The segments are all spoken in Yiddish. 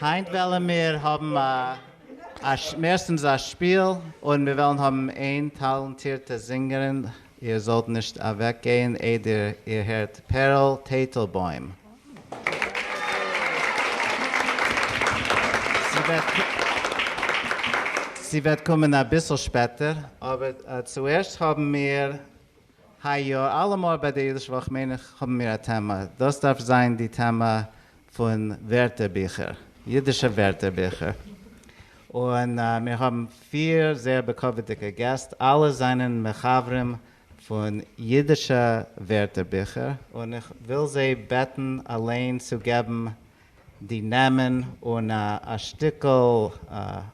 היינט וועלן מיר האבן א מערסטנס א שפיל און מיר וועלן האבן איין טאלאנטירטע זינגערין, איר זאלט נישט אוועק גיין איידער איר הערט פערל טייטלבוים. זי וועט קומען אביסל שפעטער, אבער צוערשט האבן מיר היי יאר אלעמאל ביי דער אידיש וואך מיין איך האבן מיר א טעמע, דאס דארף זיין די טעמע פון ווערטערביכער, אידישע ווערטערביכער, און מיר האבן פיר זייער בכבוד'דיגע געסט, אלע זענען מחברים פון אידישע ווערטערביכער, און איך וויל זיי בעטן אליין צו געבן די נעמען און א שטיקל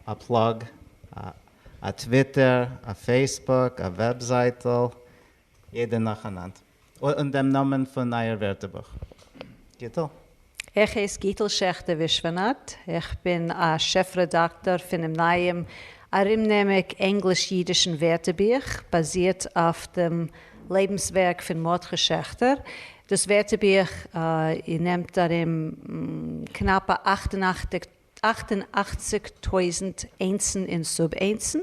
א פלאג. א טוויטער, א פעיסבוק, א וועבזייטל, יעדע נאכאנאנד אן דעם נאמען פון אייער ווערטערבוך. גיטל. איך הייס גיטל שעכטער ווישווענאט, איך בין א שעף רעדאקטאר פונעם נייעם ארומנעמיק ענגליש-אידישן ווערטערבוך, באזירט אויף דעם לעבנס ווערק פון מרדכי שעכטער. דאס ווערטערבוך נעמט ארום קנאפע אַכט און אַכציק אַכט און אַכציק טויזנט איינצן און סוב-איינצן,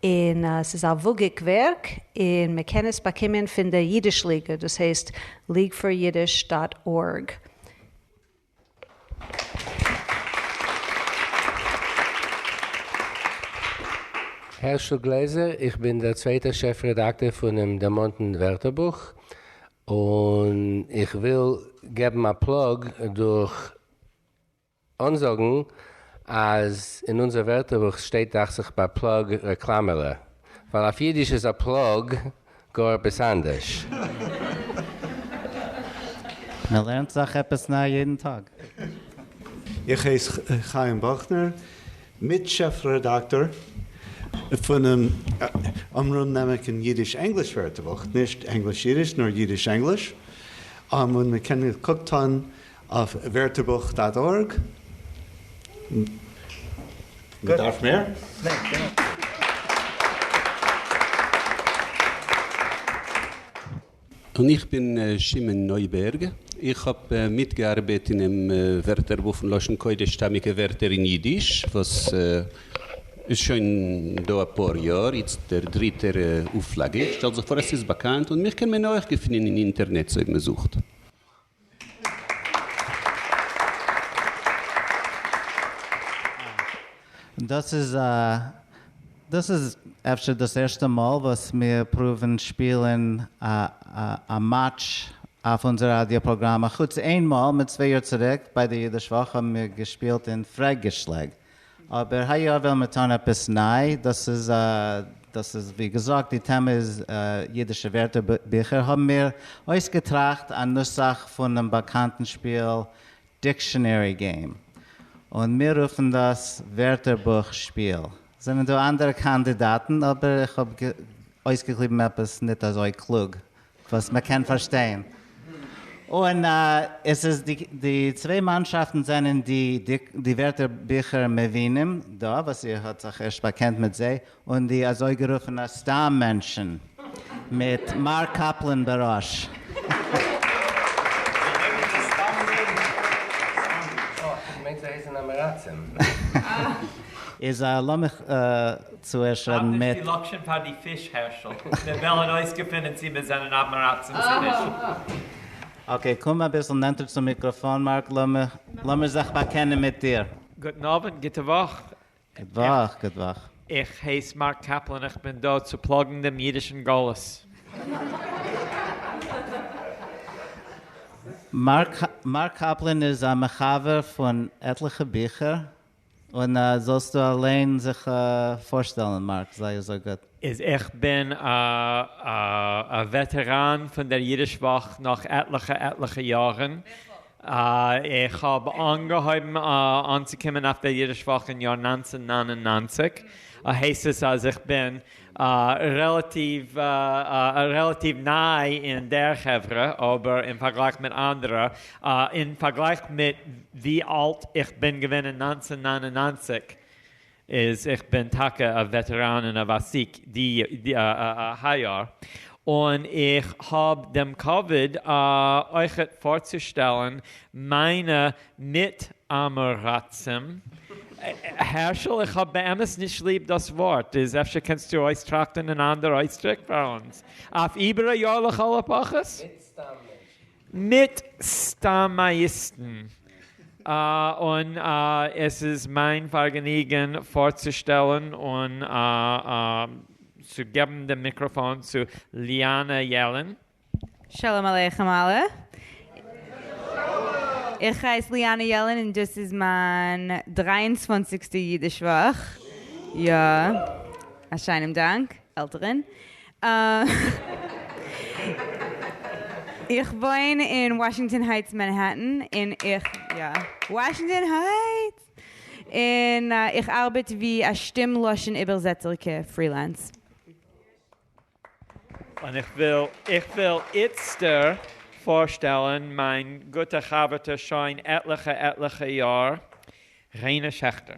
און ס'איז א וואגיק ווערק, און מען קען עס באקומען פון דער אידיש ליגע, דאס הייסט leagueforyiddish דאט ארג. הערשל גלעזער, איך בין דער צווייטער שעף רעדאקטער פונעם דערמאנטן ווערטערבוך, און איך וויל געבן א פלאג דורך. אנזאגן אז אין אונזער ווערטערבוך שטייט דאכצעך ביי פלאג רעקלאמעלע, ווייל אויף אידיש איז א פלאג גאר עפעס אנדערש. מען לערנט זיך עפעס ניי יעדן טאג. איך הייס חיים באכנער, מיט שעף רעדאקטאר פונעם אמרם'נעמעקן אידיש-ענגליש ווערטערבוך, נישט ענגליש-אידיש נאר אידיש-ענגליש, און מען קען געקוקט האבן אויף ווערטערבוך דאט ארג. מ'דארף מער? און איך בין שמעון נויבערג, איך האב מיטגעארבעט אינעם ווערטערבוך פון לשון קודש שטאמיגע ווערטער אין אידיש וואס איז שוין דא אפאר יאר, איצט דער דריטער אויפלאגע, איך שטעל זיך פאר אז ס'איז באקאנט און מיך קען מען אויך געפינען אין אינטערנעץ אויב מ'זוכט. דאס איז דאס איז אפשר דאס ערשטע מאל וואס מיר פרואווען שפילען א מאטש אויף אונזער ראדיא פראגראם, אחוץ איין מאל מיט צוויי יאר צוריק ביי די אידיש וואך האבן מיר געשפילט אין פרעג געשלעג. אבער היי יאר ווילן מיר טון עפעס ניי, דאס איז דאס איז ווי געזאגט די טעמע איז אידישע ווערטער ביכער האבן מיר אויסגעטראכט א נוסח פונעם באקאנטן שפיל דיקשאנערי געים און מיר רופן דאס ווערטער בוך שפיל. זענען דא אנדערע קאנדידאטן אבער איך האב אויסגעקליבן עפעס ניט אזוי קלוג וואס מען קען פארשטיין. און עס איז די די צוויי מאנשאפטן זענען די די ווערטער ביכער מבינים דא וואס איר האט זיך ערשט באקענט מיט זיי, און די אזויגערופענע סתם מענטשן מיט מר. קאפלען בראש. איז לאמיך צוערשט רעדן מיט. האב נישט די לאקשען פאר די פיש הערשל, מיר וועלען אויסגעפינען צי מיר זענען אויפמעראקסען צו נישט. אקעי קום אביסל נענטער צום מיקראפאן מארק לאמיר זיך באקענען מיט דיר. גוטן אווענט, גוטע וואך. גוט וואך, גוט וואך. איך הייס מארק קאפלאן איך בין דא צו פלאגן דעם אידישן גלות. מארק קאפלאן איז א מחבר פון עטליכע ביכער. און זאלסטו אליין זיך פארשטעלן מארק, זייער זייער גוט. איז איך בין א א וועטעראן פון דער אידיש וואך נאך עטליכע עטליכע יארן, איך האב אנגעהויבן אנצוקומען אויף דער אידיש וואך אין יאר נײַנצן נײַן און נײַנציק, הייסט עס אז איך בין רעלאטיוו ניי אין דער חברה, אבער אין פארגלייך מיט אנדערע, אין פארגלייך מיט ווי אלט איך בין געווען אין נײַנצן נײַן און נײַנציק, איז איך בין טאקע א וועטעראן און א וואסיק היי יאר, און איך האב דעם כבוד אויכעט פארצושטעלן מיינע ניט אַמעראַצעם. הערשל, איך האָב באמת נישט ליב דאָס וואָרט. איז אפשר קענסטו אויסטראַכטן אַן אַנדער אויסדרוק פֿאַר אונדז אויף איבער אַ יאָר לכל-הפּחות? ניט סתם מענטשן. ניט סתם אַיִסטן. און עס איז מײַן פֿאַרגעניגן פֿאָרצושטעלן און צו געבן דעם מיקראָפֿאָן צו ליאַנע יעלען. שלום עליכם אלע. איך הייס ליאנע יעלען און דאס איז מיין דרײַ און צוואַנציק סטע אידיש וואך. יא. א שיינעם דאנק, עלטערען. איך וואוין אין וואשינגטאן הייטס מענהעטען און איך, יא, וואשינגטאן הייטס! און איך ארבעט ווי א שטים לשון איבערזעצערקע פרילענס. און איך וויל איך וויל איצטער פארשטעלן מיין גוטע חבר'טע שוין עטליכע עטליכע יאר, ריינע שעכטער.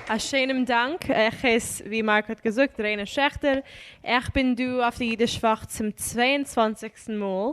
א שיינעם דאנק. איך הייס, ווי מארק האט געזאגט, ריינע שעכטער. איך בין דא אויף די אידיש וואך צום צוויי און צוואנציגסטן מאל.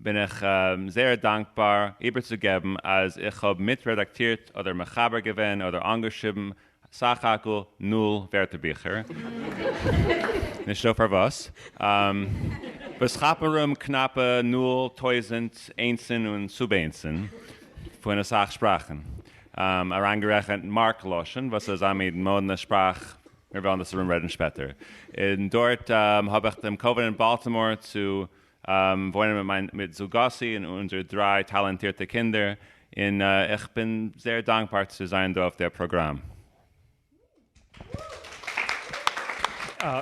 בין איך זייער דאנקבאר איבערצוגעבן אז איך האב מיט רעדאקטירט אדער מחבר געווען אדער אנגעשריבן סך הכל נול ווערטערביכער, נישטא פארוואס, וואס כאפן ארום קנאפע נול טויזענט איינסן און סוב-איינסן פון אסאך שפראכן, אריינגערעכנט מארק לשון וואס איז א מיד מאדנע שפראך, מיר וועלן דאס ארומרעדן שפעטער, און דארט האב איך דעם קאווענענט באלטימאר צו וואוינען מיט מיין מיט זוגתי און אונזערע דריי טאלאנטירטע קינדער, און איך בין זייער דאנקבאר צו זיין דא אויף דער פראגראם.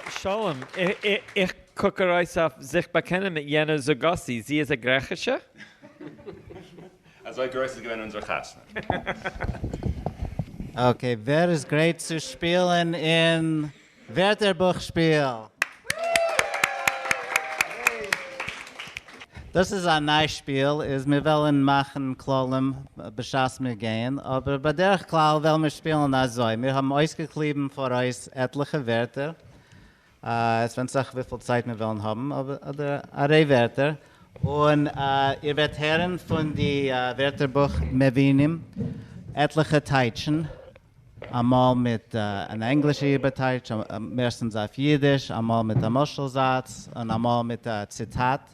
שלום, איך קוק ארויס אויף זיך באקענען מיט יענע זוגתי, זי איז א גרעכישע? אזוי גרויס איז געווען אונזער חתונה. אקעי, ווער איז גרייט צו שפילן אין ווערטערבוך שפיל! דאס איז א ניי שפיל איז מיר וועלען מאכען כללים בשעת מיר גייען אבער בדרך כלל וועלן מיר שפילען אזוי מיר האבן אויסגעקליבען פאראויס עטליכע ווערטער עס ווענט זיך וויפיל צייט מיר וועלן האבן אדער א ריי ווערטער און איר וועט הערען פון די ווערטערבוך מבינים עטליכע טייטשען אמאל מיט אן ענגלישע איבערטייטש, מערסטנס אויף אידיש, אמאל מיט א משל זאץ, און אמאל מיט א ציטאט.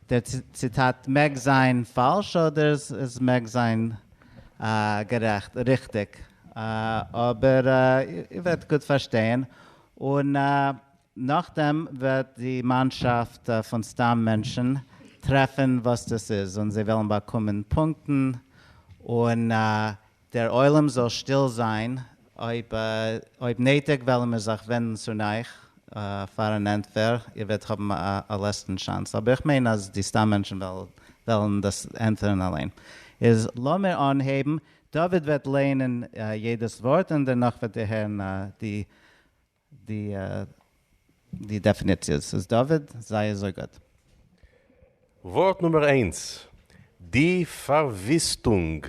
דער ציטאט מעג זיין פאלש אדער עס מעג זיין גערעכט, ריכטיג, אבער איר וועט גוט פארשטיין, און נאכדעם וועט די מאנשאפט פון סתם מענטשן טרעפן וואס דאס איז, און זיי וועלן באקומען פונקטן, און. דער עולם זאל שטיל זיין, אויב נעטיג וועלן מיר זיך ווענדן צו נייך פאר אן ענטפער, איר וועט האבן א לעצטן שאנס, אבער איך מיין אז די סתם מענטשן וועלן דאס ענטפערן אליין. איז לאמיר אנהייבן, דוד וועט לייענען יעדעס ווארט און דערנאך וועט איר הערן די די דעפיניציעס איז דוד זייער זוי גוט. ווארט נומער איינס, די פארוויסטונג.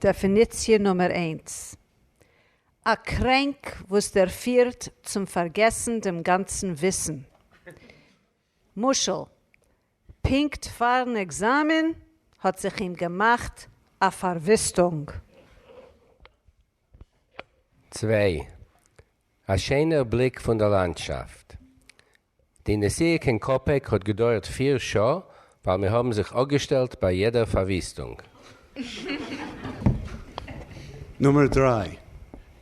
דעפיניציע נומער איינס, א קרענק וואס דערפירט צום פארגעסן דעם גאנצן וויסן. משל, פונקט פארן עקזאמען האט זיך אים געמאכט א פארוויסטונג. צוויי, א שענער בליק פון דער לאנדשאפט. די נסיעה קיין קאפעק האט געדויערט פיר שעה ווייל מיר האבן זיך אפגעשטעלט ביי יעדער פארוויסטונג. נומער דריי,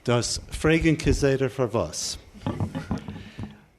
דאס פרעגן כסדר פארוואס.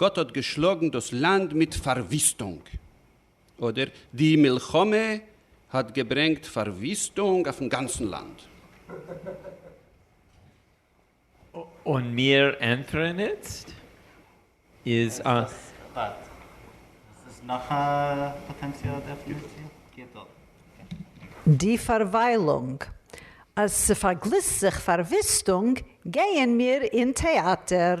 גאט האט געשלאגן דאס לאנד מיט פארוויסטונג, אדער די מלחמה האט געברענגט פארוויסטונג אויפן גאנצן לאנד. און מיר ענטפערן איצט איז א. איז דאס א פאקט? דאס איז נאך א פאטענציאלע דעפעניציע? גוט אויך. די פארוויילונג. אז ס'פארגליסט זיך פארוויסטונג גייען מיר אין טעאטער.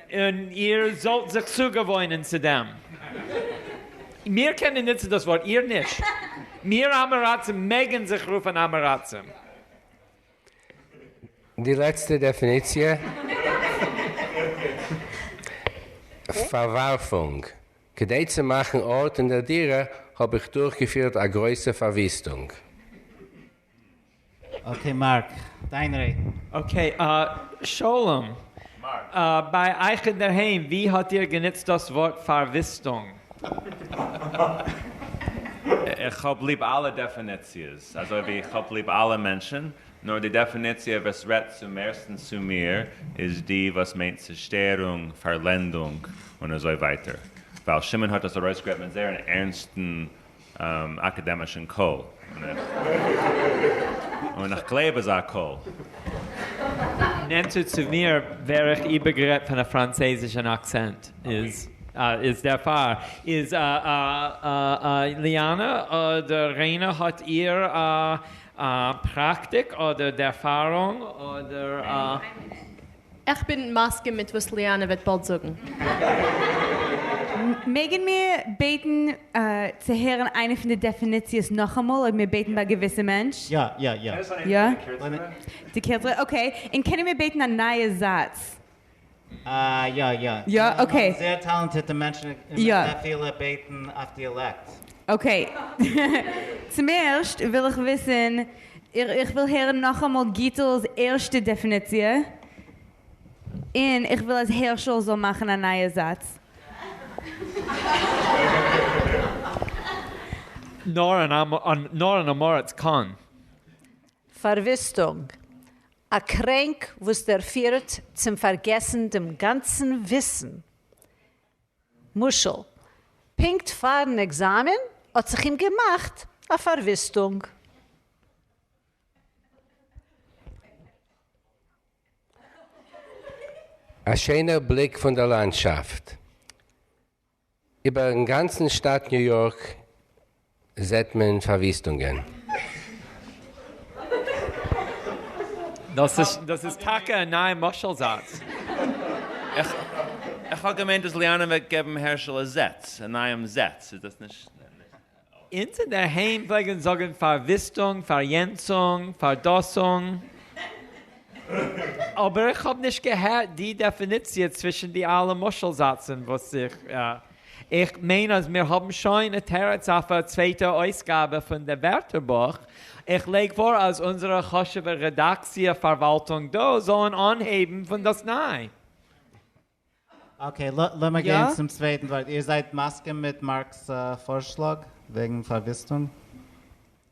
און איר זאלט זיך צוגעוואוינען צו דעם. מיר קענען נוצן דאס ווארט, איר נישט. מיר אמעראצים מעגן זיך רופן אמעראצים. די לעצטע דעפיניציע, פארווארפונג. כדי צו מאכן ארט אין דער דירה האב איך דורכגעפירט א גרויסע פארוויסטונג. אקעי מארק, דיין רעדן. אקעי שלום, ביי אייך אינדערהיים ווי האט איר גענוצט דאס ווארט פארוויסטונג? איך האב ליב אלע דעפעניציעס אזוי ווי איך האב ליב אלע מענטשן, נאר די דעפעניציע וואס רעדט צום מערסטן צו מיר איז די וואס מיינט צושטערונג, פארלענדונג און אזוי ווייטער, ווייל שמעון האט דאס ארויסגערעדט מיט זייער אן ערנסטן אקאדעמישן קול און איך גלייב אזא קול. נענטער צו מיר ווער איך איבערגערעדט פון א פראנצייזישן אקצענט איז איז דערפאר איז ליאנא אדער ריינא האט איר פראקטיק אדער ערפארונג אדער. איך בין מסכים מיט וואס ליאנע וועט באלד זאגן. מעגן מיר בעטן צו הערן איינע פון די דעפיניציעס נאכאמאל אויב מיר בעטן ביי געוויסע מענטש? יא יא יא. יא? די קורצערע? אקעי. און קענען מיר בעטן א נייע זאץ? אה יא יא. יא? אקעי. זייער טאלענטירטע מענטשן און מען קען אפילו בעטן אויף דיאלעקט. אקעי. צום ערשט וויל איך וויסן. איך וויל הערן נאכאמאל גיטל'ס ערשטע דעפיניציע, און איך וויל אז הערשל זאל מאכן א נייע זאץ. נאר אן אמאראץ קאן. פארוויסטונג, א קרענק וואס דערפירט צום פארגעסן דעם גאנצן וויסן. משל, פונקט פארן עקזאמען האט זיך אים געמאכט א פארוויסטונג. א שענער בליק פון דער לאנדשאפט איבערן גאנצן שטאַט ניו יארק. זעט מען פארוויסטונגען. דאס איז טאקע א נייע משל זאץ. איך האב געמיינט אז ליאנען וועט געבן הערשעלע זעץ, א נייעם זעץ, איז דאס נישט? אונז אינדערהיים פלעגן זאגן פארוויסטונג, פאריענצונג, פארדאסונג. אבער איך האב נישט געהערט די דעפיניציע צווישן די אלע משל זאצן וואס איך. איך מיין אז מיר האבן שוין א תירוץ אויף א צווייטע אויסגאבע פון דער ווערטערבוך. איך לייג פאר אז אונזערע חשוב'ע רעדאקציע פארוואלטונג דא זאלן אנהייבן פון דאס ניי. אקעי, לאמיר גיין צום צווייטן ווארט. איר זייט מסכים מיט מארק'ס פארשלאג וועגן פארוויסטונג?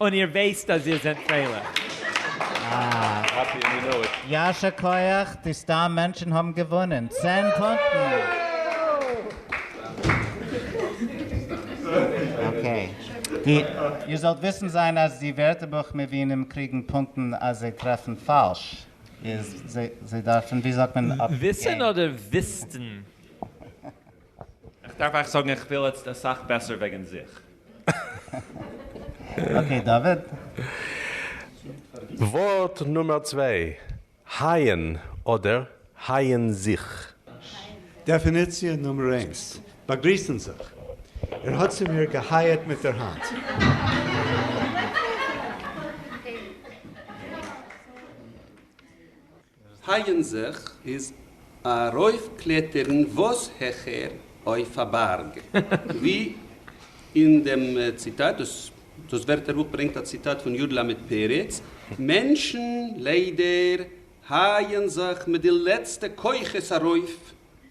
און איר ווייסט אז איר זענט פרייליך. יישר כח, די סתם מענטשן האבן געוואונען! צען פונקטן! איר זאלט וויסן זיין אז די ווערטערבוך מבינים קריגן פונקטן אז זיי טרעפן פאלש, איז זיי דארפן ווי זאגט מען אפגעבן. וויסן אדער וויסטן? איך דארף אייך זאגן איך פיל יעצט אסאך בעסער וועגן זיך. אקעי דוד. ווארט נומער צוויי, הייען אדער הייען זיך? דעפיניציע נומער איינס, באגריסן זיך, ער האט צו מיר געהייעט מיט דער האנט. פייען זיך איז ארויפקלעטערן וואס העכער אויף א בארג, ווי אין דעם ציטאט, דאס ווערטערבוך ברענגט א ציטאט פון יוד למד פרץ, מענטשן ליידער הייען זיך מיט די לעצטע כוחות ארויף,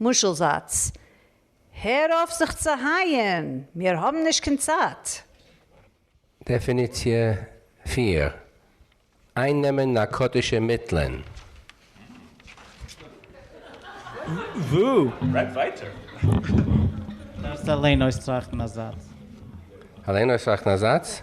משל זאץ, הער אויף זיך צו הייען, מיר האבן נישט קיין צייט! דעפיניציע פֿיר, אייננעמען נארקאטישע מיטלען. דארפסט אליין אויסטראכטן א זאץ. אליין אויסטראכטן א זאץ?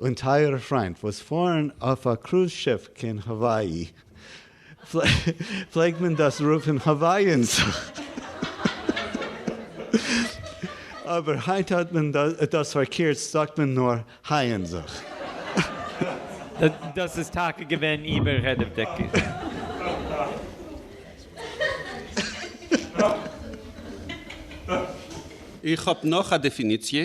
און טייערע פריינט וואס פארן אויף א קרוז שיף קיין האוואאי, פלעגט מען דאס רופן האוואיען סאוט, אבער היינט האט מען דאס פארקירצט זאגט מען נאר הייען זאוט. דאס איז טאקע געווען איבעררעדעוודעג. איך האב נאך א דעפיניציע.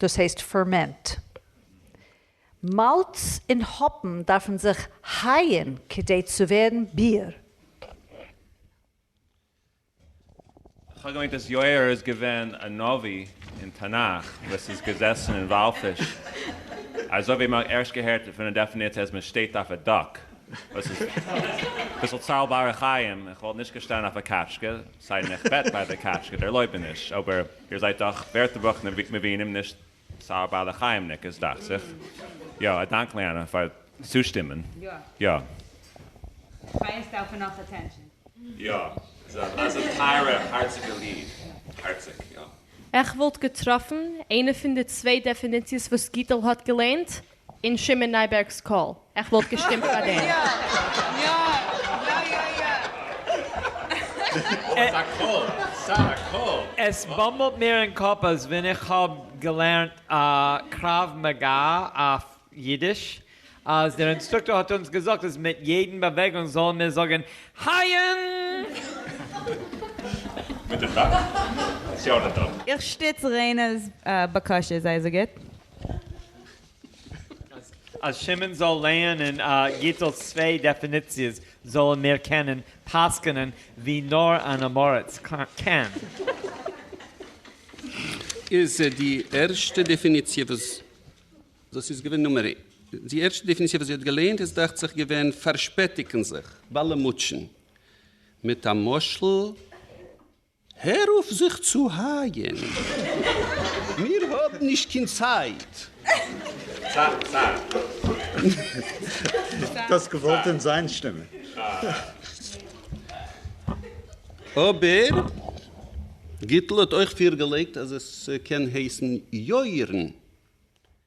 דאס הייסט פערמענט. מאלץ און האפן דארפן זיך הייען כדי צו ווערן ביר. כ'האב געמיינט אז יאיר איז געווען א נביא אין תנך וואס איז געזעסן אין וואלפיש אזוי ווי מ'האט ערשט געהערט פון די דעפיניציע אז מ'שטייט אויף א דאק וואס איז אביסל ציילבארע חיים, איך וואלט נישט געשטאנען אויף א קאטשקע, סיידן איך בעט ביי די קאטשקע דערלויבעניש, אבער. איר זײַט דאָך װערטערבוך מבינים, נישט סאַ בעלי-חײמניקעס, דאַכט זיך. יאָ, אַ דאַנק, ליאַנע, פֿאַר צושטימען. יאָ. חיות דאַרפֿן נאָך אַטענשאָן. יאָ, ס'איז אַ זיס, טײַערע, האַרציקע ליד. האַרציק, יאָ. איך װאָלט געטראָפֿן אײנע פֿון די צװײ דעפֿיניציעס װאָס גיטעל האָט געלערנט, אין שמעון נייבערג'ס קול. איך וואלט געשטימט פאר דעם. יא יא יא יא יא אבער ס'א קול! ס'א קול! עס באמבלט מיר אין קאפ אז ווען איך האב געלערנט קרב מגע אויף אידיש אז דער אינסטרוקטאר האט אונז געזאגט אז מיט יעדן באוועגונג זאלן מיר זאגן הייען! מיט די פראגע? ס'יא אדער ניין? איך שטיץ ריינער'ס בקשה, זיי זאגט. אז שמעון זאל לערנען גיטל'ס צוויי דעפיניציעס זאלן מיר קענען פסק'נען ווי נאר אן אמאראץ קען. איז די ערשטע דעפיניציע וואס דאס איז געווען נומער איין. די ערשטע דעפיניציע וואס זי האט געלערנט איז דאכט זיך געווען פארשפעטיגן זיך, באלעמוטשען, מיט א משל. הער אויף זיך צו הייען. מיר האבן נישט קיין צייט. דאס געוואלט אין זיין שטימע. אבער גיטל האט אויך פירגעלייגט אז עס קען הייסן יאיר'ן.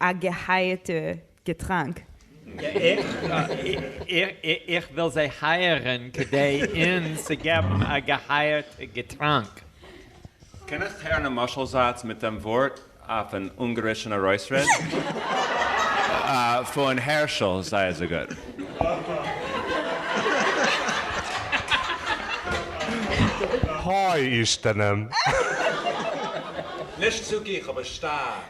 א געהייעטע געטראנק. איך וויל זיי הייערען כדי אונז צו געבן א געהייערט געטראנק. קענסט הערן א משל זאץ מיט דעם ווארט אויף אן אונגארישן ארויסרעד? פון הערשל זיי אזוי גוט. היי אישתנים. נישט צו גיך אבער שטארק.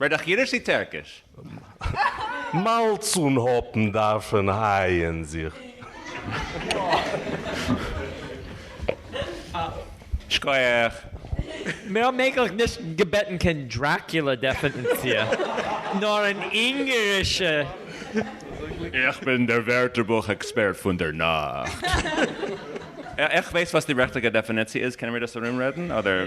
ווער דיך אידיש צי טערקיש? מאלץ און האפן דארפן הייען זיך. שקויעך. מיר האבן אייגנטליך נישט געבעטן קיין דראקולע דעפענציע, נאר אן אונגערישע. איך בין דער ווערטערבוך עקספערט פון דער נאכט. איך ווייס וואס די ריכטיגע דעפעניציע איז, קענען מיר דאס ארומרעדן אדער.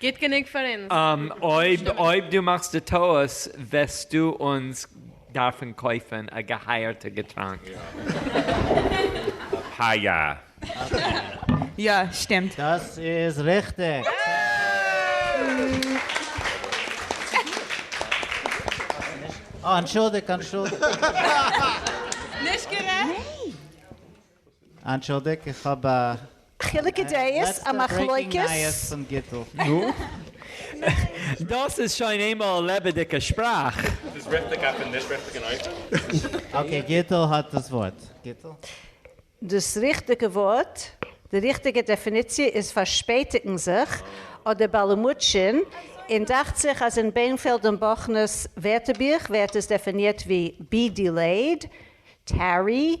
גוט גענוג פאר אונז. אויב אויב דו מאכסט די טעות וועסטו אונז דארפן קויפן א געהייערטע געטראנק. ה י. יא, שטימט. דאס איז ריכטיג. אה, אנטשולדיגט, אנטשולדיגט. נישט גערעכט. אנטשולדיג איך האב א חילוקי דעות, א מחלוקת. דאס איז שוין איינמאל א לעבעדיגע שפראך. איז דאס ריכטיג אויפן נישט ריכטיגן אופן? אקעי גיטל האט דאס ווארט, גיטל. דאס ריכטיגע ווארט, די ריכטיגע דעפיניציע איז פארשפעטיגן זיך אדער באלעמוטשען, און דאכט זיך אז אין בענפעלד און באכנער'ס ווערטערבוך ווערט עס דעפינירט ווי be delayed, tarry,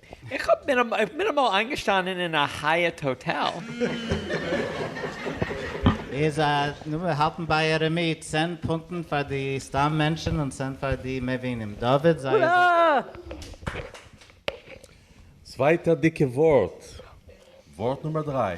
איך האב מיר איך בין אמאל איינגעשטאנען אין א הייעט האטעל. איז א, נו מיר האלטן ביי ערעמי, צען פונטן פאר די סתם מענטשן און צען פאר די מבינים. דוד זייער זיסער. צווייטע דיקע ווארט. ווארט נומער דריי.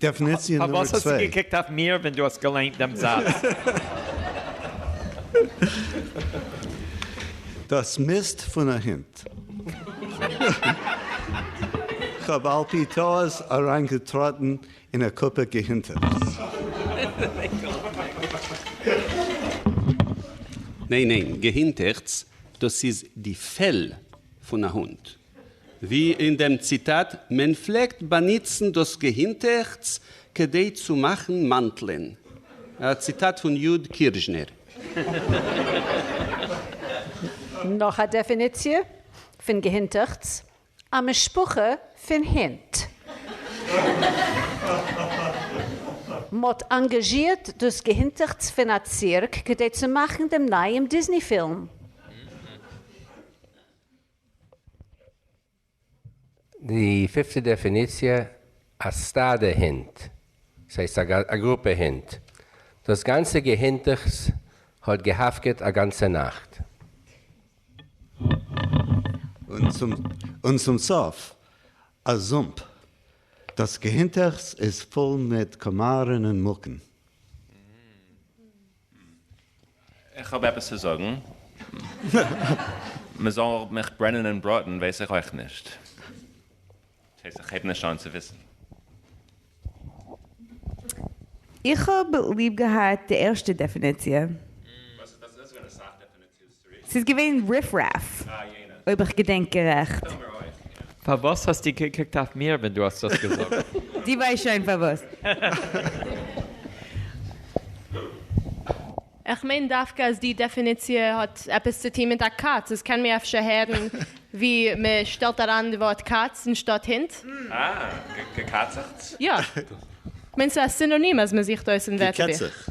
דעפעניציע נומער צוויי. פארוואס האסטו געקוקט אויף מיר ווען דו האסט געליינט דעם זאץ? דאס מיסט פון א הונט. כ'האב על פי טעות אריינגעטראטן אין א קופה געהינטעכץ. ניין ניין, געהינטעכץ דאס איז די פעל. פון א הונט, ווי אין דעם ציטאט, מען פלעגט באנוצן דאס געהינטעכץ כדי צו מאכן מאנטלען, א ציטאט פון יו ד קירשנער. נאך א דעפיניציע פון געהינטעכץ, א משפחה פון הינט. מ'האט אנגאזשירט דאס געהינטעכץ פון א צירק כדי צו מאכן דעם נייעם דיזני פילם. די פיפטע דעפיניציע, א סטאדע הינט, דאס הייסט א גרופע הינט, דאס גאנצע געהינטעכץ האט געהאפקעט א גאנצע נאכט. און צום סוף, א זומפ, דאס געהינטעכץ איז פול מיט קאמארן און מוקן. איך האב עפעס צו זאגן? מ'זאל מיך ברענען און בראטן ווייס איך אויך נישט. ס'הייסט איך הייב נישט אן צו וויסן. איך האב ליב געהאט די ערשטע דעפיניציע. ס'איז געווען ריף רעף, אויב איך געדענק גערעכט. פארוואס האסטו געקוקט אויף מיר ווען דו האסט דאס געזאגט? דו ווייסט שוין פארוואס. איך מיין דווקא אז די דעפיניציע האט עפעס צו טון מיט א קאץ, עס קען מיר אפשר הערן ווי מען שטעלט אריין די ווארט קאץ אנשטאט הונט. אה, געקאצעכטס? יא. כ'מיין ס'איז א סינאנים אז מען זוכט אויס אין ווערטערבוך. געקעצעכט.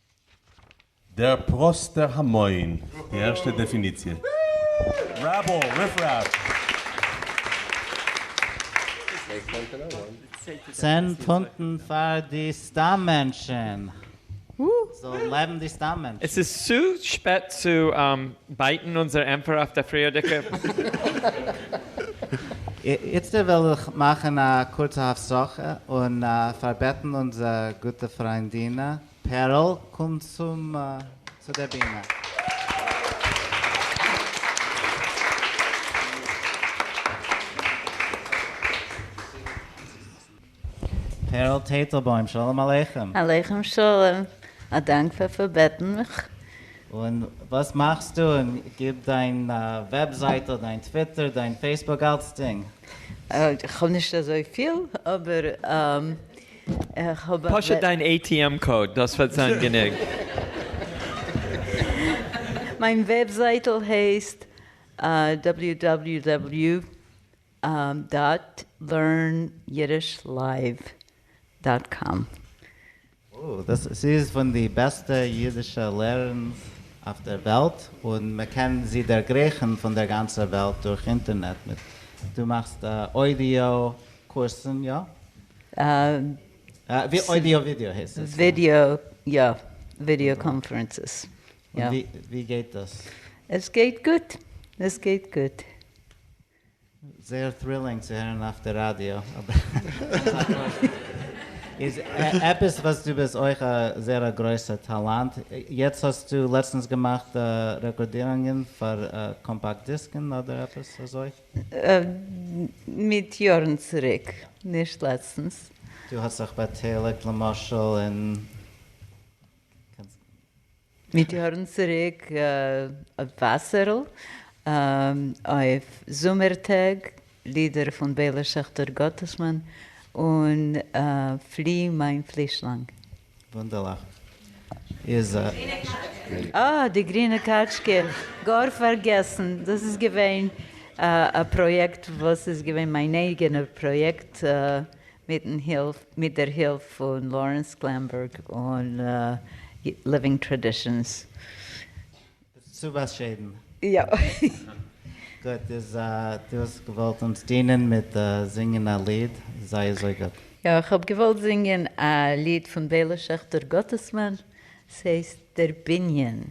דער פראסטער המון, די ערשטע דעפיניציע. רעבעל, ריפרעף. צען פונטן פאר די סתם מענטשן. זאל לעבן די סתם עס מענטשן. איז צו שפעט צו בייטן אונזער ענפער אויף די פריערדיגע? איצטער וועל איך מאכן א קורצע הפסקה און פארבעטן אונזער גוטע פריינדינע פערל קום צום צו דער בימה. פערל טייטלבוים שלום עליכם. עליכם שלום, א דאנק פאר פארבעטן מיך. און וואס מאכסטו און גיב דיין וועבזייטל דיין טוויטער דיין פעיסבוק אלצדינג. איך האב נישט אזויפיל אבער. פשוט דיין ATM קאוד, דאס וועט זיין גענוג. מיין וועבזייטל הייסט www דאט לערן אידיש לייוו דאט קאם. אוי, דאס איז פון די בעסטע אידישע לערנס אויף דער וועלט, און מען קען זי דערגרייכן פון דער גאנצער וועלט דורך אינטערנעט מיט, דו מאכסט אוידיאו קורסן, יא? אוידיאו ווידיאו הייסט עס. ווידיאו יא, ווידיאו קאנפרענסעס. ווי גייט דאס? עס גייט גוט, עס גייט גוט. זייער טרילינג צו הערן אויף די ראדיא. איז עפעס וואס דו ביסט אויך א זייער א גרויסע טאלאנט, יעצט האסטו לעצטנס געמאכט רעקארדירונגען פאר קאמפאקט דיסקן אדער עפעס אזוי? מיט יארן צוריק, נישט לעצטנס. דו האסט זיך באטייליגט למשל אין. מיט יארן צוריק אויף וואסערל, אויף זומער טעג, לידער פון בעלער שעכטער גאטעסמאן, און פלי מיין פלישלאנג. וואונדערליך איז. אה, די גרינע קאטשקע, גאר פארגעסן, דאס איז געווען א פראיעקט וואס איז געווען מיין אייגענע פראיעקט מיטן הילף, מיט דער הילף פון לארענס גלענבערג און ליווינג טראדישאנס. צו באשיידן. יא. גוט איז דו האסט געוואלט אונז דינען מיט זינגען א ליד, זיי אזוי גוט. יא, איך האב געוואלט זינגען א ליד פון בעלע שעכטער גאטעסמאן, ס'הייסט דער בנין.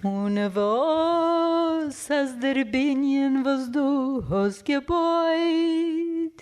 און וואס אז דער בנין וואס דו האסט געבויט.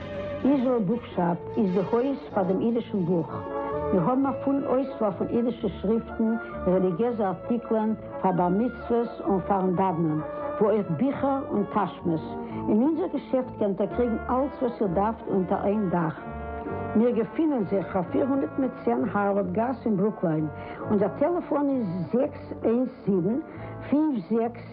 איזראעל בוקשאפ איז די הויז פאר דעם אידישן בוך. מיר האבן א פולן אויסוואל פון אידישע שריפטן, רעליגיעזע ארטיקלען פאר בר מצוות און פאר'ן דאוונען, ווי אויך ביכער און טאשמעס. אין אונזער געשעפט קענט איר קריגן אלץ וואס איר דארפט אונטער איין דאך. מיר געפינען זיך אויף פֿיר הונדערט מיט צען הארווארד גאס אין ברוקליין. אונזער טעלעפאן איז זעקס איינס זיבן, פֿינף זעקס.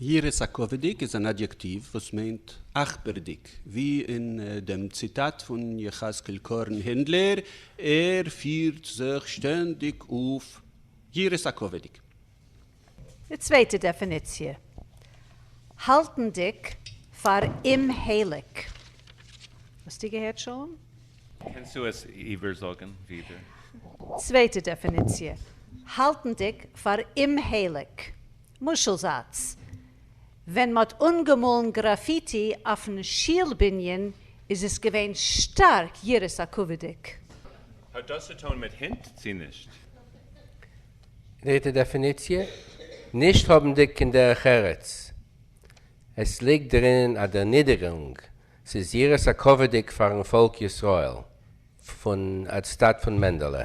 יראת הכבוד'יג איז אן אדיעקטיוו וואס מיינט אכפר'דיג, ווי אין דעם ציטאט פון יחזקאל קארן הענדלער, ער פירט זיך שטענדיג אויף יראת הכבוד'יג. די צווייטע דעפיניציע, האלטנדיג פאר אומהייליג. האסטו געהערט, שלום? קענסטו עס איבערזאגן ווידער? צווייטע דעפיניציע, האלטנדיג פאר אומהייליג. משל זאץ, ווען מ'האט אנגעמאלן גראפיטי אויפן שול בנין איז עס געווען שטארק יראת הכבוד'דיג. האט דאס צו טון מיט הינט צו נישט? דריטע דעפיניציע, נישט האבנדיג קיין דרך ארץ. עס ליגט דערינען א דערנידערונג ס'איז יראת הכבוד'יג פאר'ן פאלק ישראל פון אנטסטאט פון מענדעלע.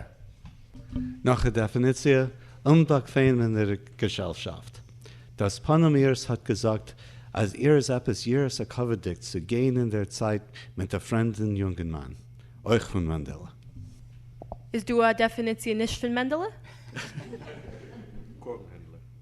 נאך א דעפיניציע, אומבאקוועמענער געשעלשאפט. דאס פנים איר'ס האט געזאגט אז איר איז עפעס יראת הכבוד'יג צו גיין אין דער צייט מיט א פרעמדן יונגנמאן, אויך פון מענדעלע. איז דא א דעפיניציע נישט פון מענדעלע? קארן הענדלער.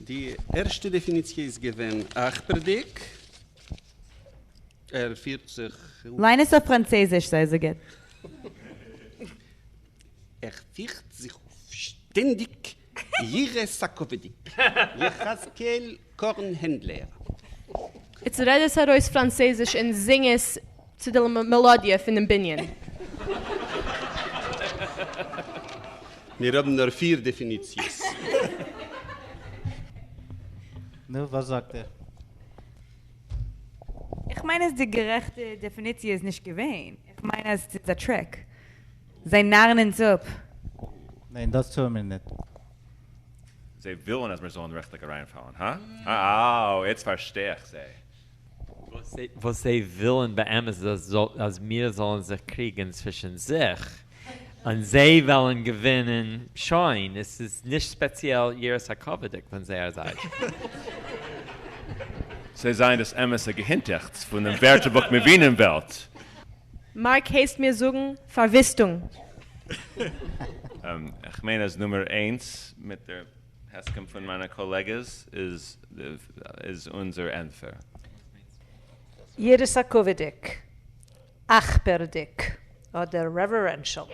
די ערשטע דעפיניציע איז געווען אכפר'דיג, ער פירט זיך. ליין עס אויף פראנצעזיש, זיי אזוי גוט. ער פירט זיך אויף שטענדיג יראת הכבוד'דיג, יחזקאל קארן הענדלער. איצט רעד עס ארויס פראנצעזיש און זינג עס צו די מעלאדיע פונעם בנין. מיר האבן נאר פיר דעפיניציעס. נו וואס זאגט איר? איך מיין אז די גערעכטע דעפיניציע איז נישט געווען, איך מיין אז ס'איז א טריק, זיי נארן אונז אפ. ניין דאס טוען מיר ניט. זיי ווילן אז מיר זאלן רעכטליך אריינפאלן, הא? אה, אוי, איצט פארשטיי איך זיי. וואס זיי ווילן באמת איז אז מיר זאלן זיך קריגען צווישען זיך און זיי וועלן געווינען, שוין, עס איז נישט ספעציעל יראת הכבוד'יג פון זייער זייט. זיי זענען דאס אמת'ע געהינטעכטס פונעם ווערטערבוך מבינים וועלט. מארק הייסט מיר זאגן פארוויסטונג. איך מיין אז נומער איינס מיט דער. הסכם פון מיינע קאלעגעס איז איז אונזער ענטפער. יראת הכבוד'דיג, אכפר'דיג, אדער רעווערענשעל?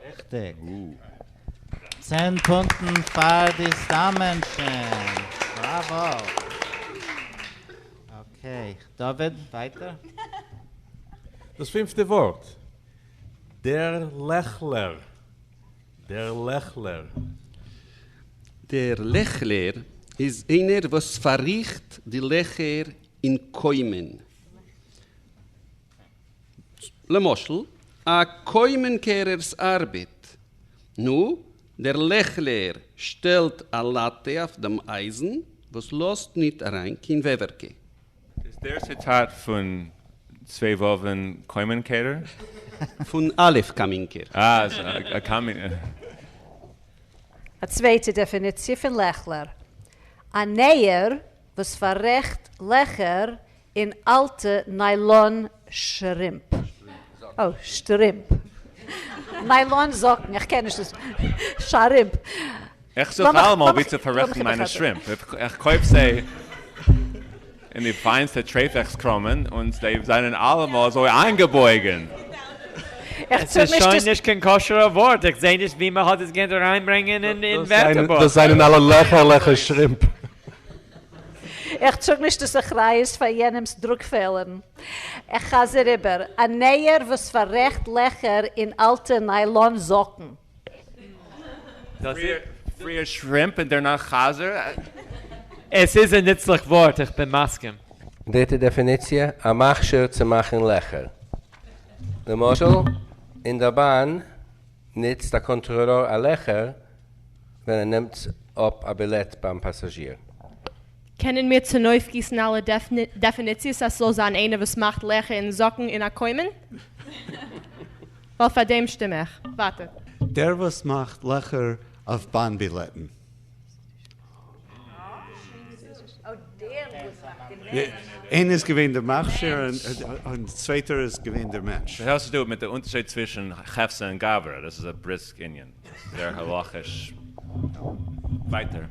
ריכטיג. צען פונטן פאר די סתם מענטשן. בראווא. אקעי. דוד, ווייטער. דאס פינפטע ווארט, דער לעכלער. דער לעכלער. דער לעכלער איז איינער וואס פארריכט די לעכער אין קוימען. למשל, א קוימען קערער'ס ארבעט. נו, דער לעכלער שטעלט א לאטע אויף דעם אייזן וואס לאזט ניט אריין קיין וועווערקע. איז דער ציטאט פון צוויי וואווען קאמינקעיטער? פון א' קאמינקער. א צווייטע דעפיניציע פון לעכלער. א נער וואס פאררעכט לעכער אין אלטע ניילאן שרימפ. שטרימפ. ניילאן זאקן. איך קען נישט דאס. שרימפ. איך זוך אלעמאל ווי צו פאררעכטן מיינע שרימפ, איך קויף זיי אין די פיינסטע טרעפעקס קראמען און זיי זענען אלעמאל אזוי איינגעבויגן. עס איז שוין נישט קיין כשר'ע ווארט, איך זעה נישט ווי מען האט עס געקענט אריינברענגען אין ווערטערבוך. דאס זענען אלע לעכערליכע שרימפ. איך טראג נישט דאס אחריות פאר יענעמ'ס דרוק פעלערן. איך חזר איבער, א נער וואס פאררעכט לעכער אין אלטע ניילאן זאקן. פריער שרימפ און דערנאך חזיר? עס איז א נוצליך ווארט, איך בין מסכים. דריטע דעפיניציע, א מכשיר צו מאכן לעכער. למשל, אין דער באן נוצט א קאנטראלאר א לעכער ווען ער נעמט אפ א בילעט ביים פאסאזשיר. קענען מיר צונויפגיסן אלע דעפיניציעס אז ס'זאל זיין איינער וואס מאכט לעכער אין זאקן און א קוימען? ווייל פאר דעם שטים איך. ווייטער. דער וואס מאכט לעכער אויף באן בילעטן. איינער איז געווען דער מכשיר און די צווייטער איז געווען דער מענטש. שוין האסטו מיט די אונטערשייד צווישן חפצא און גברא, דאס איז א בריסק ענין, דאס איז זייער הלכה'יש. ווייטער.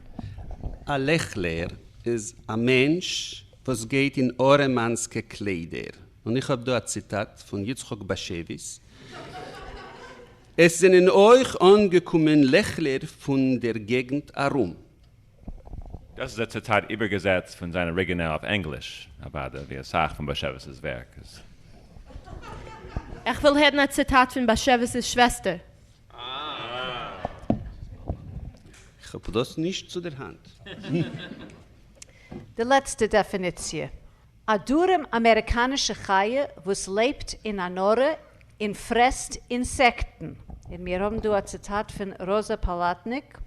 א לעכלער איז א מענטש וואס גייט אין ארעמאנסקע קליידער. און איך האב דא א ציטאט פון יצחק באשעוויס, עס זענען אויך אנגעקומען לעכלער פון דער געגנט ארום. דאס איז א ציטאט איבערגעזעצט פון זיין אריגינעל אויף ענגליש, אוודאי, ווי אסאך פון באשעוויס'ס ווערק איז. איך וויל הערן א ציטאט פון באשעוויס'ס שוועסטער. איך האב דאס נישט צו דער האנט. די לעצטע דעפיניציע. א דרום אמעריקאנישע חיה וואס לעבט אין א נארע און פרעסט אינסעקטן. און מיר האבן דא א ציטאט פון ראזא פאלאטניק,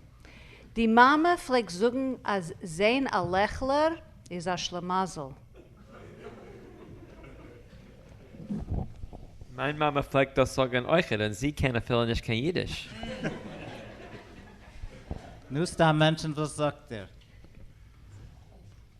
די מאמע פלעגט זאגן אז זעהן א לעכלער איז א שלמזל. מיין מאמע פלעגט דאס זאגן אויכעט און זי קען אפילו נישט קיין אידיש. נו סתם מענטשן וואס זאגט איר?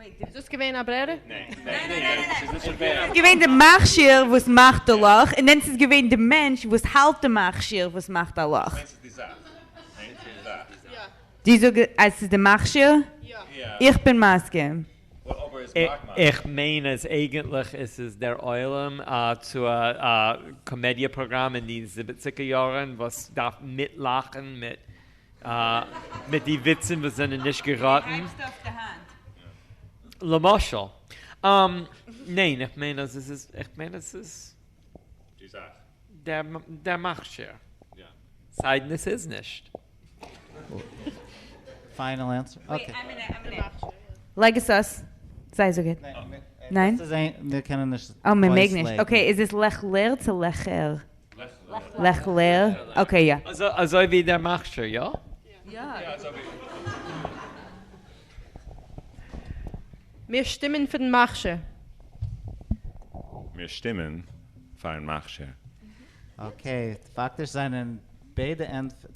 איז דאס געווען א ברירה? געווען די מכשיר וואס מאכט די לאך און דען ס'איז געווען די מענטש וואס האלט די מכשיר וואס מאכט א לאך. די זאג אז ס'איז די מכשיר? איך בין מסכים. איך מיין אז אייגענטליך איז עס דער עולם צו א קאמעדיע פראגראם אין די זיבעציגער יארן וואס דארף מיטלאכן מיט מיט די וויצן וואס זענען נישט געראטן. למשל. ניין, איך מיין אז עס איז, איך מיין אז עס איז. די זאך. דער מכשיר. יא. סיידן עס איז נישט. פיינעל ענטסער. אקעי. לייג עס אויס. זיי זאג איט. ניין? מיר קענען נישט. אה, מען מעג נישט. אקעי, איז עס לעכלער צו לעכער? לך לך. אקעי יא. אזוי ווי דער מכשיר, יא? מיר שטימען פאר דעם מכשיר. מיר שטימען פארן מכשיר. אקעי, פאקטיש זענען ביידע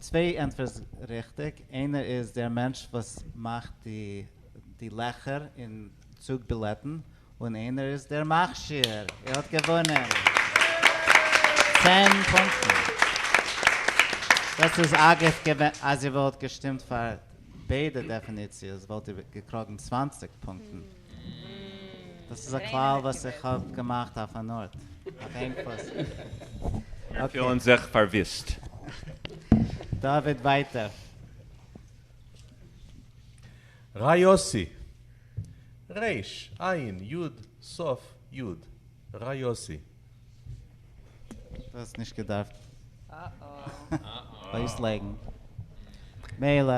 צוויי ענטפערס ריכטיג, איינער איז דער מענטש וואס מאכט די לעכער אין צוג בילעטן, און איינער איז דער מכשיר, ער האט געוואונען צען פונקטן. דאס איז אגב געווען אז איר וואלט געשטימט פאר ביידע דעפיניציעס וואלט איר געקראגן צוואַנציק פונקטן. דאס איז א כלל וואס איך האב געמאכט אויף אן ארט, אויף איין פוס. מיר פילן זיך פארוויסט. דוד ווייטער. ר' יוסי, ר' עין יוד סוף יוד, ר' יוסי. דאס נישט געדארפט אויסלייגן, מילא.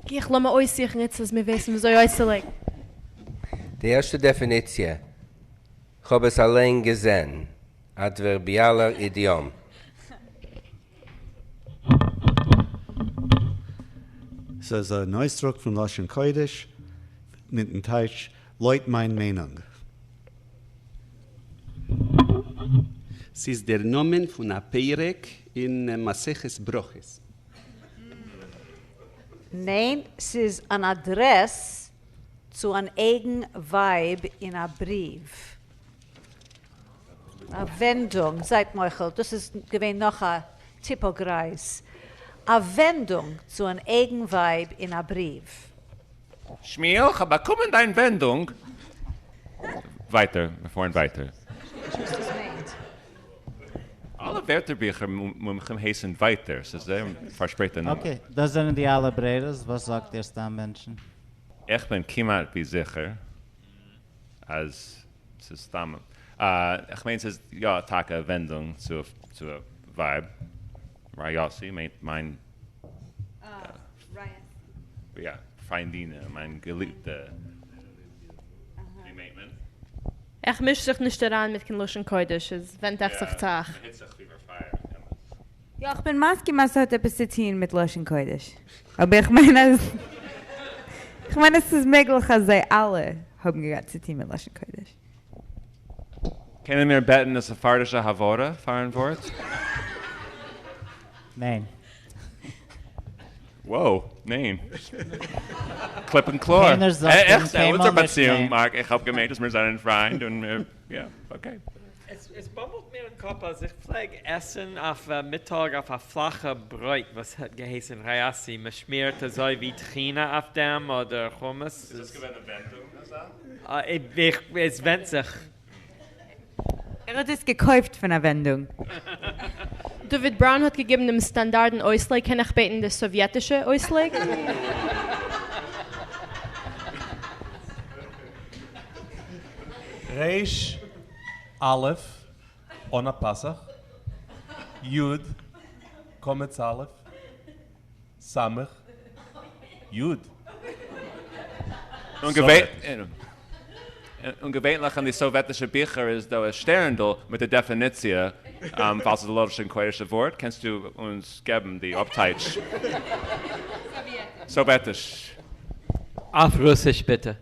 גיך לאמיר אויסזוכן איצט אז מיר ווייסן וויאזוי אויסצולייגן. די ערשטע דעפיניציע, כ'האב עס אליין געזען, אדווערביאלער אידיאם. ס'איז אן אויסדרוק פון לשון קודש מיטן טייטש לויט מיין מיינונג. ס'איז דער נאמען פון א פרק אין מסכת ברכות. ניין, ס'איז אן אדרעס צו אן אייגן ווייב אין א בריוו. א ווענדונג, זייט מוחל, דאס איז געווען נאך א טיפא גרייז. א ווענדונג צו אן אייגן ווייב אין א בריוו. שמואל, כ'האב באקומען דיין ווענדונג. ווייטער, מיר פארן ווייטער. נישט וואס דאס מיינט. אלע ווערטערביכער מומחים הייסן ווייטער, ס'איז זייער פארשפרייטע נאמען. אקעי, דאס זענען די אלע ברירות, וואס זאגט איר סתם מענטשן? איך בין כמעט ווי זיכער. אז ס'איז סתם א, איך מיין ס'איז יא טאקע א ווענדונג צו צו א ווייב, ר' יאסי מיינט מיין, יא, פריינדינע, מיין געליבטע, ווי מיינט מען? איך מיש זיך נישט אריין מיט קיין לשון קודש, עס ווענדט אויף זיך צו אייך. יא איך בין מסכים אז ס'האט עפעס צו טוהן מיט לשון קודש, אבער איך מיין אז איך מיין אז ס'איז מעגליך אז זיי אלע האבן געהאט צו טוהן מיט לשון קודש. קענען מיר בעטן א ספרדישע הברה פארן ווארט? וואו, ניין. קליפ און קלאר. קיינער זאגט אים קיינמאל נישט ניין. איך האב געמיינט אז מיר זענען פריינד און מיר, יא, אקעי. עס באבלט מיר אין קאפ אז איך פלעג עסן אויף מיטאג אויף א פלאכע ברויט וואס האט געהייסן ראיאסי, מען שמירט אזוי ווי טחינה אויף דעם אדער חומוס. איז דאס געווען אינווענטונג אזא? עס ווענדט זיך. ער האט עס געקויפט פון א ווענדונג. דוד בראון האט געגעבן דעם סטאנדארדן אויסלייג, קען איך בעטן די סאוויעטישע אויסלייג? ר' א' אן א פסח, י' קמץ א', ס' י' סארט. און געווענליך אין די סאוועטישע ביכער איז דא א שטערנדל מיט די דעפיניציע, פאלס איז א לשון קודש ווארט קענסטו אונז געבן די אפטייטש? סאוועטיש. אויף רוסיש ביטע.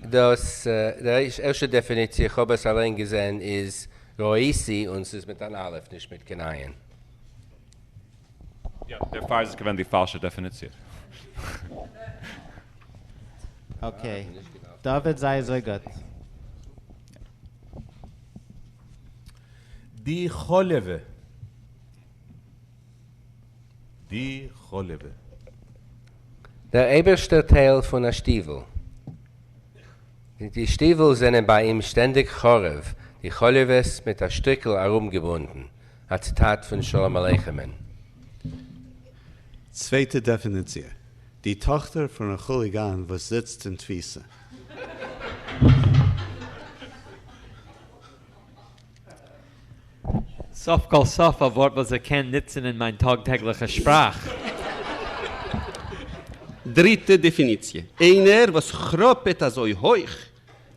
דאס ערשטע דעפיניציע, איך האב עס אליין געזען, איז ראיסי, און ס'איז מיט אן אלף, נישט מיט קיין עין. יא, דערפאר איז עס געווען די פאלשע דעפיניציע. אקעי, דוד זיי אזוי גוט. די חלבה. די חלבה. דער אייבערשטער טייל פון א שטיוול. די שטיוול זענען ביי אים שטענדיג חרוב, די חלבות מיט א שטריקל ארומגעבונדן, א ציטאט פון שלום עליכם'ן. צווייטע דעפיניציע. די טאכטער פון א כוליגאן וואס זיצט אין תפיסה. סוף כל סוף א ווארט וואס איך קען נוצן אין מיין טאג טעגליכע שפראך. דריטע דעפיניציע, איינער וואס כראפעט אזוי הויך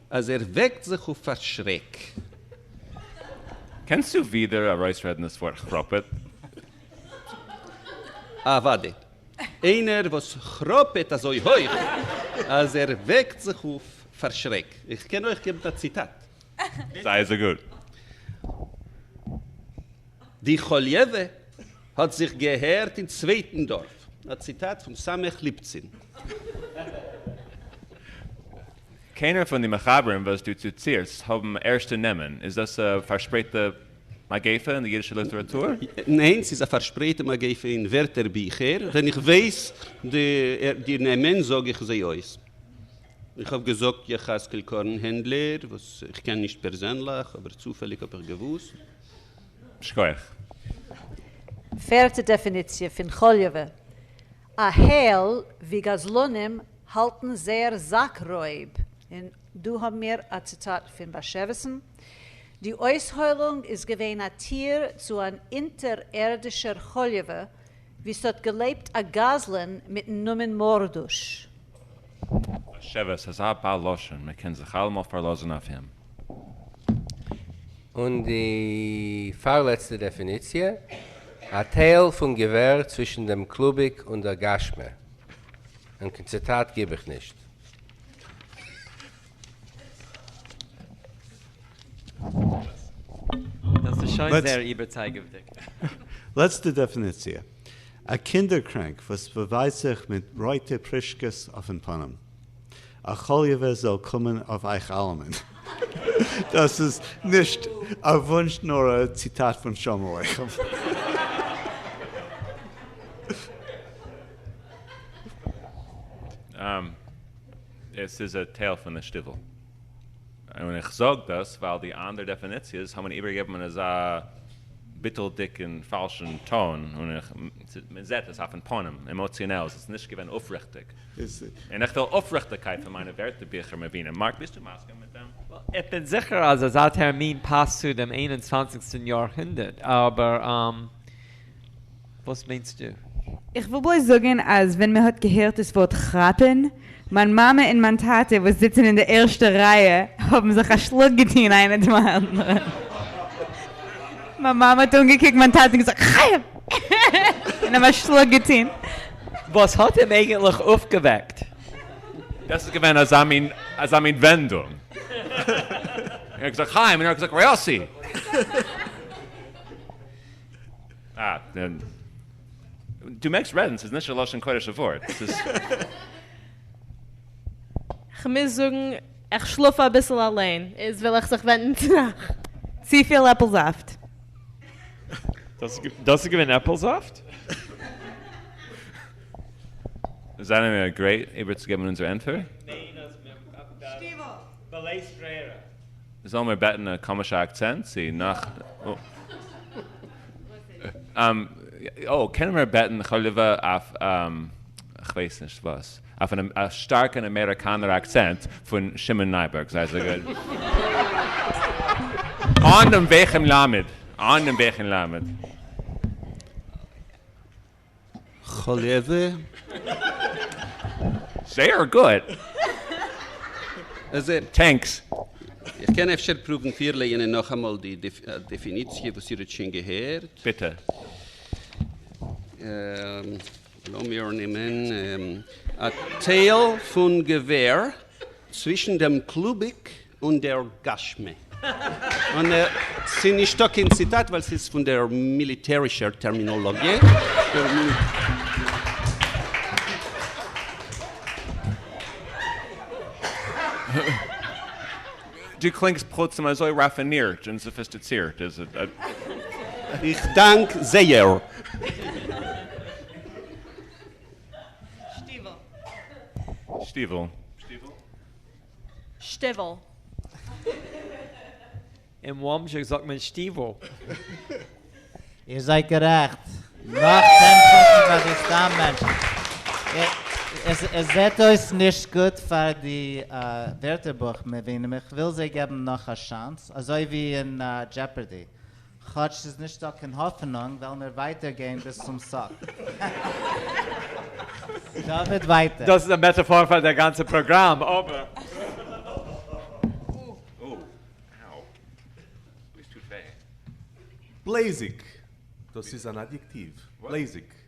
אז ער וועקט זיך אויף פאר שרעק. קענסטו ווידער ארויסרעדן דאס ווארט כראפעט? אוודאי. איינער וואס כראפעט אזוי הויך אז ער וועקט זיך אויף פאר שרעק. איך קען אויך געבן א ציטאט. זיי אזוי גוט. די חוליעווע האט זיך געהערט אין צווייטן דארף. א ציטאט פון ס' ליפצין. קיינער פון די מחברים וואס דו צוטירסט האבן ערשטע נעמען? איז דאס א פארשפרייטע מגיפה אין די יידישע ליטעראטור? ניין, ס'איז א פארשפרייטע מגיפה אין ווערטער ביכער, ווען איך ווייס די נעמען זאג איך זיי אויס. איך האב געזאגט יחזקאל קארן הענדלער, וואס איך קען נישט פערזענליך, אבער צופעליג האב איך געוואוסט. שכוח. פערטע דעפיניציע פון חוליווע, א העל ווי גזלנים האלטן זייער זאק רויב, און דא האבן מיר א ציטאט פון באשעוויסן, די אויסהוילונג איז געווען א טיר צו אן אונטערערדישער חוליווע וואו ס'האט געלעבט א גזלן מיטן נאמען מורדוש. א שבט, ס'איז א בעל לשון, מ'קען זיך אלעמאל פארלאזן אויף אים. און די פארלעצטע דעפיניציע, א טייל פון געווער צווישן דעם קלוביק און דער גשמי. און קיין ציטאט גיב איך נישט. דאס איז שוין זייער איבערצייגעוודיג. לעצטע דעפיניציע. א קינדער קרענק וואס באווייזט זיך מיט רויטע פרישקעס אויפן פנים. א חוליווע זאל קומען אויף אייך אלעמען. דאס איז נישט א וואונטש נאר א ציטאט פון שלום עליכם. עס איז א טייל פון די שטיוול. און איך זאג דאס ווייל די אנדערע דעפיניציעס האבן איבערגעגעבן אין אזא ביטול'דיג און פאלשן טאן, און איך, מען זעט עס אויפן פנים, עמאציאנעל, עס איז נישט געווען אויפריכטיג. און איך וויל אויפריכטיגקייט פון מיינע ווערטערביכער מבינים. מארק, ביסטו מסכים מיט דעם? איך בין זיכער אז אזא טערמין פאסט צו דעם איין און צוואנציגסטן יאר הונדערט, אבער. וואס מיינסטו? איך וויל בלויז זאגן אז ווען מען האט געהערט דאס ווארט כראפען, מיין מאמע און מיין טאטע וואס זיצן אין די ערשטע רייע האבן זיך א שלאק געטון איינער דעם אנדערן. מיין מאמע האט אנגעקוקט מיין טאטע און געזאגט חיים! און אים א שלאק געטון. וואס האט אים אייגענטליך אויפגעוועקט? דאס איז געווען אזא מין אזא מין ווענדונג. ער האט געזאגט חיים און ער האט געזאגט ר' יאסי! דו מעגסט רעדן, ס'איז נישט א לשון קודש'ע ווארט, ס'איז. כ'מוז זאגן, איך שלאף אביסל אליין, איז וויל איך זיך ווענדן צו אייך. צופיל עפל זאפט. דאס איז געווען עפל זאפט? זענען מיר גרייט איבערצוגעבן אונזער ענטפער? זאלן מיר בעטן א קאמישע אקצענט צו נאך אוי קענען מיר בעטן חליווע אויף כ'ווייס נישט וואס אויף א שטארקן אמעריקאנער אקצענט פון שמעון נייבערג זיי אזוי גוט אן דעם ואכמ ל. זייער גוט! טענקס! איך קען אפשר פרובן פירלייענען נאכאמאל די דעפיניציע וואס איר האט שוין געהערט. ביטע. לאמיר נעמען א טייל פון געווער צווישן דעם קלוביק און דער גש מ. און ס'איז נישטא קיין ציטאט ווייל ס'איז פון דער מיליטערישער טערמינאלאגיע. דו קלינגסט פלוצים אזוי ראפינירט און סאפיסטיצירט. איך דאנק זייער. שטיוול. שטיוול. שטיוועל. אין וומסב ג זאגט מען שטיוועל. איר זייט גערעכט. נאך צען פונטן פאר די סתם מענטשן. עס זעט אויס נישט גוט פאר די ווערטערבוך מבינים, איך וויל זיי געבן נאך א שאנס, אזוי ווי אין דזשעפערדי. כאטש ס'איז נישט דא קיין האפענונג וועלן מיר ווייטער גיין ביז צום סוף. דוד ווייטער. דאס איז א מעטאפאר פאר דער גאנצער פראגראם, אבער. בלעזיג, דאס איז אן אדיעקטיוו, בלעזיג.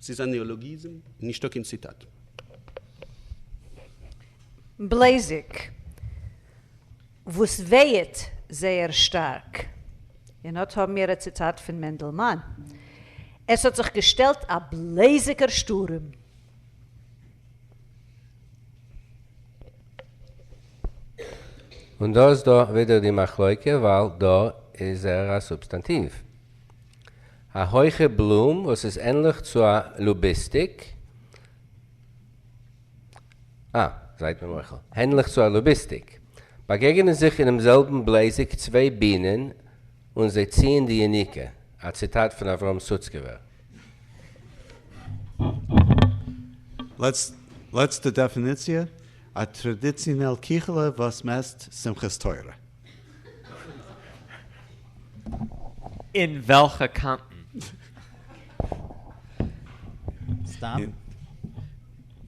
ס'איז א נעאלאגיזם, נישטא קיין ציטאט. בלעזיג, וואס ווייעט זייער שטארק, און אט האבן מיר א ציטאט פון מענדלמאן, עס האט זיך געשטעלט א בלעזיגער שטורעם. און דא איז דא ווידער די מחלוקה, ווייל דא איז ער א סובסטאנטיוו, א הויכע בלום וואס איז ענליך צו א לוביסטיק. אה, זייט מיר מוחל. הענליך צו א לוביסטיק. באגעגענען זיך אינעם זעלבן בלעזיק צוויי בינען און זיי ציען די יניקה, א ציטאט פון אברהם סוצקעווער. לעצטע דעפיניציע, א טראדיצינעל קיכעלע וואס מעסט שמחת תורה. אין וועלכע קאנטן? סתם?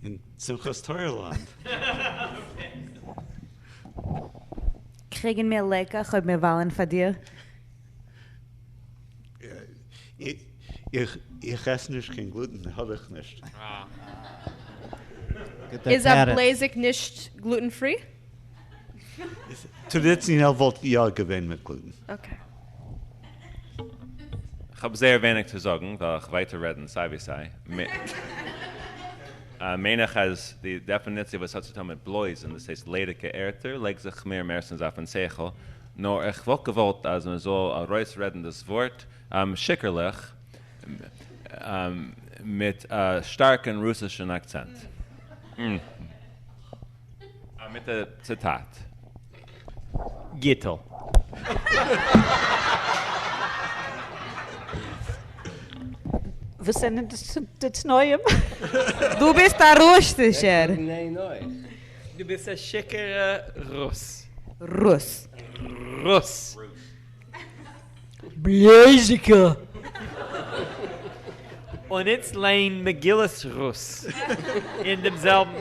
אין שמחת תורה לאנד. קריגן מיר לעקעך אויב מיר וויילן פאר דיר? איך עס נישט קיין גלוטן האב איך נישט. איז א בלעזיק נישט גלוטן פרי? טראדיציאנעל וואלט איך יא געווען מיטגליד. אקעי. כ'האב זייער ווייניג צו זאגן, וועל איך ווייטער רעדן סיי ווי סיי. מיין איך אז די דעפיניציע וואס האט צו טון מיט בלויז און דאס הייסט ליידיגע ערטער לייגט זיך מיר מערסטנס אויפן שכל, נאר איך וואלט געוואלט אז מען זאל ארויסרעדן דאס ווארט שיכור'ליך מיט א שטארקן רוסישן אקצענט. א מיט א ציטאט. גיטל. וואס זענען די תנאים? דו ביסט א רוסטישער. דו ביסט א שיכור'ע רוס. רוס. רוס. בלאזיקע. און איצט ליין מגילת רות אין דעם זעלבן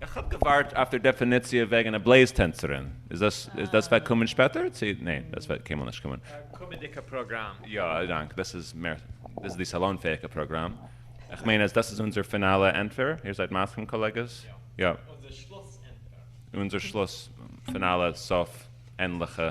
איך האב געווארט אויף דער דעפיניציע וועגן א בלעז טענצערין, איז דאס וועט קומען שפעטער צו ניין דאס וועט קיינמאל נישט קומען? א קומענדיגע פראגראם. יא, א דאנק. דאס איז מער, דאס איז די סאלאן-פעאיגע פראגראם. איך מיין אז דאס איז אונזער פינאלע ענטפער. איר זייט מסכים קאלעגעס? יא. אונזער שלוס ענטפער. אונזער שלוס, פינאלע, סוף, ענדליכע.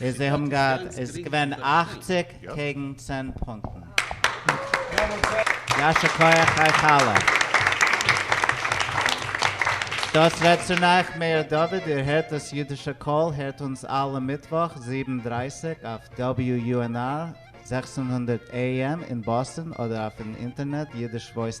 איז זיי האבן געהאט איז געווען אַכציק קעגן צען פונקטן. ישר כח אייך אלע. דאס רעדט צו נייך מאיר דוד, איר הערט דאס אידישע קול, הערט אונז אלע מיטוואך זיבן דרייסיג אויף WUNR זעכצן הונדערט AM אין באסטן אדער אויפן אינטערנעט אידיש וואויס.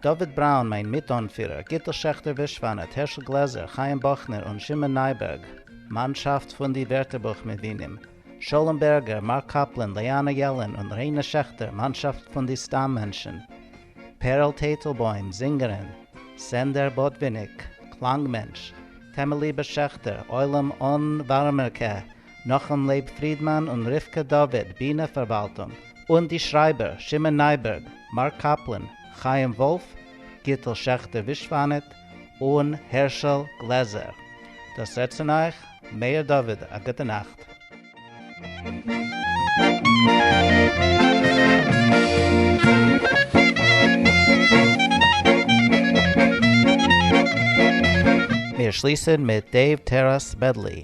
דוד בראון, מיין מיט-אנפירער, גיטל שעכטער ווישוואנאט, הערשל גלעזער, חיים באכנער און שמעון נייבערג, מאנשאפט פון די ווערטערבוך מבינים, שלום בערגער, מארק קאפלען, ליאנא יעלען און ריינע שעכטער, מאנשאפט פון די סתם מענטשן, פערל טייטלבוים, זינגערין, סענדער באדוויניק, קלאנג מענטש, טעמעליבע שעכטער, עולם אן ווארעמער קע, נחום לייב פרידמאן און רבקה דוד, בינע פארוואלטונג, און די שרייבער, שמעון נייבערג, מארק קאפלען, חיים וואלף, גיטל שעכטער ווישוואנעט, און הערשל גלעזער. דאס רעדט צון אייך מאיר דוד, א גוטע נאכט. מיר שליסן מיט דעיוו טעראס מעדלי.